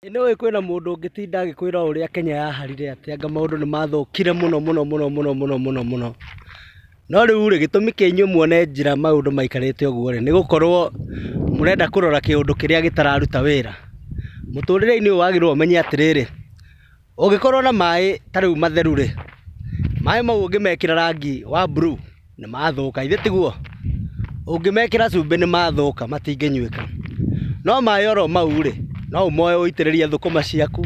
Ĩ nĩũĩ kwĩna mũndũ ũngĩtinda agĩkwĩra ũrĩa Kenya yaharire atĩ anga maũndũ nĩ mathũkire mũno mũno mũno mũno mũno mũno mũno. No rĩu rĩ, gĩtũmi kĩa inyuĩ muone njĩra maũndũ maikarĩte ũguo rĩ, nĩ gũkorwo mũrenda kũrora kĩũndũ kĩrĩa gĩtararuta wĩra. Mũtũrĩre-inĩ ũyũ wagĩrĩirwo ũmenye atĩrĩrĩ. Ũngĩkorwo na maĩ ta rĩu matheru rĩ, maĩ mau ũngĩmekĩra rangi wa blue nĩmathũka githĩ tiguo? Ũngĩmekĩra cumbĩ nĩmathũka matingĩnyuĩka. No maĩ oro mau rĩ, no ũmoe ũitĩrĩrie thũkũma ciaku.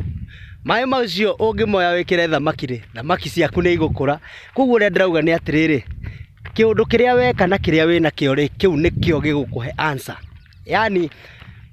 Maĩ macio ũngĩmoya wĩkĩre thamaki rĩ, thamaki ciaku nĩigũkũra. Kuoguo ũrĩa ndĩrauga nĩ atĩrĩrĩ, kĩũndũ kĩrĩa weka na kĩrĩa wĩnakĩo rĩ, kĩu nĩkĩo gĩgũkũhe answer. Yaani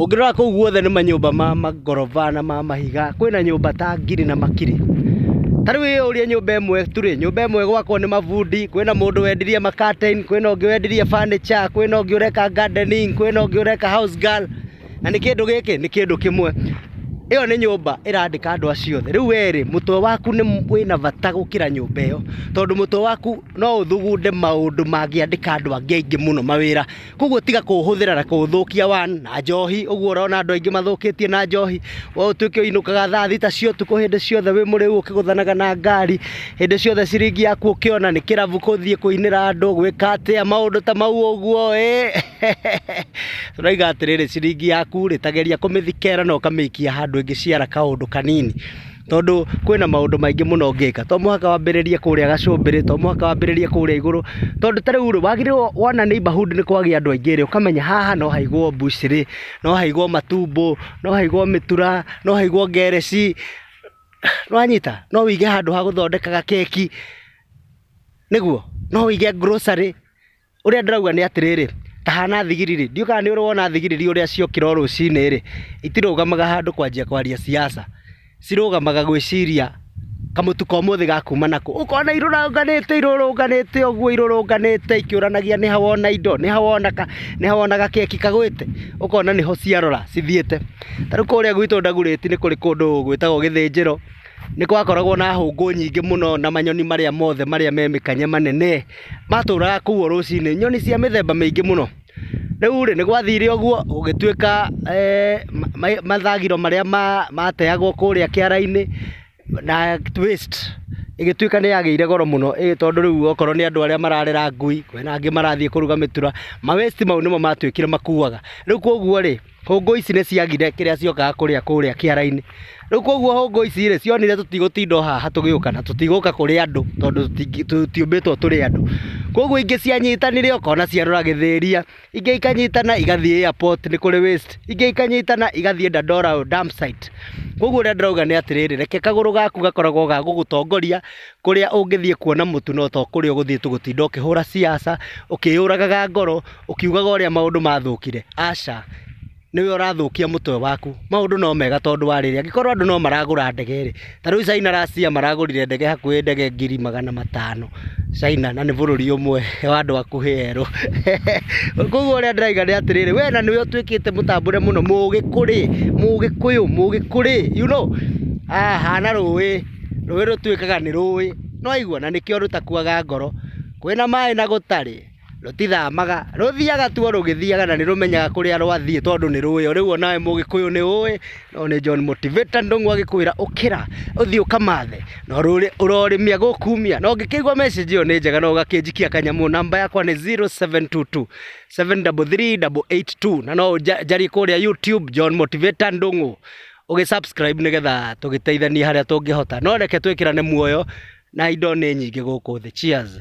Ũngĩrora kũu guothe nĩ manyũmba ma mangoroba na ma mahiga, kwĩna nyũmba ta ngiri na makiri. Ta rĩu ĩyo ũrĩa nyũmba ĩmwe tu rĩ, nyũmba ĩmwe gwakwo nĩ mabundi, kwĩna mũndũ wendirie ma curtain, kwĩna ũngĩ wendirie furniture, kwĩna ũngĩ ũreka gardening, kwĩna ũngĩ ũreka house girl, na nĩ kĩndũ gĩkĩ nĩ kĩndũ kĩmwe. Ĩyo nĩ nyũmba ĩrandĩka andũ acio othe. Rĩu we rĩ, mũtwe waku nĩ wĩna bata gũkĩra nyũmba ĩyo, tondũ mũtwe waku no ũthugunde maũndũ mangĩandĩka andũ angĩ aingĩ mũno mawĩra, koguo tiga kũhũthĩra na kũthũkia wa na njohi ũguo ũrona andũ aingĩ mathũkĩtie na njohi we ũtuĩke ũinũkaga thaa thita cia ũtukũ hĩndĩ ciothe wĩ mũrĩu ũkĩgũthanaga na ngari hĩndĩ ciothe ciringi yaku ũkĩona nĩ kĩrabu kũthiĩ kũinĩra andũ gwĩka atĩa maũndũ ta mau ũguo ĩ tũraiga atĩrĩrĩ ciringi yaku rĩ tageria kũmĩthikera na ũkamĩikia handũ ĩngĩciara kaũndũ kanini tondũ kwĩna maũndũ maingĩ mũno ũngĩka, to mũhaka wambĩrĩrie kũrĩa gacũmbĩrĩ, to mũhaka wambĩrĩrie kũrĩa igũrũ, tondũ ta rĩu rĩ, wagĩrĩirwo wona neighbourhood nĩ kwagĩa andũ aingĩ rĩ, ũkamenya haha no haigwo mbucĩrĩ, no haigwo matumbũ, no haigwo mĩtura, no haigwo ngereci, nĩ wanyita? No wĩige handũ ha gũthondekaga keki, nĩguo? No wĩige grocery. Ũrĩa ndĩrauga nĩ atĩrĩrĩ, ta hana thigiriri, ndiũĩ kana nĩ ũrona thigiriri ũrĩa ciokĩra o rũcinĩ rĩ, itirũgamaga handũ kwanjia kwaria ciaca, cirũgamaga gwĩciria kamũtu ka ũmũthĩ gakuma nakũ, ũkona irũrũnganĩte irũrũnganĩte ũguo irũrũnganĩte ikĩũranagia nĩha wona indo, nĩha wona ka, nĩha wona gakeki kagwĩte, ũkona nĩho ciarora cithiĩte. Ta rĩu kũrĩa gwitũ Ndagurĩti nĩ kũrĩ kũndũ gwĩtagwo gĩthĩnjĩro. Nĩ gwakoragwo na hũngũ nyingĩ mũno na manyoni marĩa mothe marĩa me mĩkanye manene matũraga kũu o rũcinĩ, nyoni cia mĩthemba mĩingĩ mũno. Rĩu rĩ, nĩ gwathire ũguo gũgĩtuĩka mathagiro marĩa mateagwo kũrĩa kĩara-inĩ na waste ĩgĩtuĩka nĩ yagĩire goro mũno tondũ rĩu okorwo nĩ andũ arĩa mararera ngui, kwĩna angĩ marathiĩ kũruga mĩtura, ma waste mau nĩmo matuĩkire makuaga. Rĩu kũguo rĩ... hũngũ ici nĩ ciagire kĩrĩa ciokaga kũrĩa kũrĩa kĩara-inĩ. Rĩu koguo hũngũ ici rĩ, cionire tũtigũtinda o haha tũgĩũka na tũtigũka kũrĩ andũ tondũ tũtiũmbĩtwo tũrĩ andũ. Koguo ingĩ cianyitanire ũkona ciarora Gĩthĩria, ingĩ ikanyitana igathiĩ airport nĩ kũrĩ waste, ingĩ ikanyitana igathiĩ Dandora road dump site. Koguo ũrĩa ndĩrauga nĩ atĩrĩrĩ, reke kagũrũ gaku gakoragwo ga gũgũtongoria kũrĩa ũngĩthiĩ kuona mũtu no to kũrĩa ũgũthiĩ gũtinda ũkĩhũra ciaca, ũkĩyũragaga ngoro, ũkiugaga ũrĩa maũndũ mathũkire, aca, nĩwe ũrathũkia mũtwe waku. Maũndũ no mega tondũ wa rĩrĩ, angĩkorwo andũ no maragũra ndege rĩ, ta rĩu China last year maragũrire ndege hakuhĩ ndege ngiri magana matano, China na nĩ bũrũri ũmwe wa andũ akuhĩ erũ. Koguo ũrĩa ndĩrauga nĩ atĩrĩrĩ, we na nĩwe ũtuĩkĩte mũtambũre mũno, mũgĩkũrĩ, mũgĩkũyũ, mũgĩkũrĩ, you know, hana rũĩ, rũĩ rũtuĩkaga nĩ rũĩ, nĩ waigua, na nĩkĩo rũtakuaga ngoro, kwĩna maĩ na gũtarĩ. rũtithamaga, rũthiaga tu o rũgĩthiaga na nĩ rũmenyaga kũrĩa rwathiĩ tondũ nĩ rũĩ. Rĩu o nawe mũgĩkũyũ nĩ ũĩ, ũyũ nĩ John Motivator Ndung'u agĩkwĩra ũkĩra ũthiĩ ũkamathe na ũrorĩmia gũkumia. Na ũngĩkĩigua message ĩyo nĩ njega na ũgakĩnjikia kanyamũ, namba yakwa nĩ 0722 733 882 na no ũnjarie kũrĩa YouTube John Motivator Ndung'u ũgĩ subscribe nĩgetha tũgĩteithanie harĩa tũngĩhota. No reke twĩkĩrane muoyo na indo nĩ nyingĩ gũkũ thĩ. Cheers.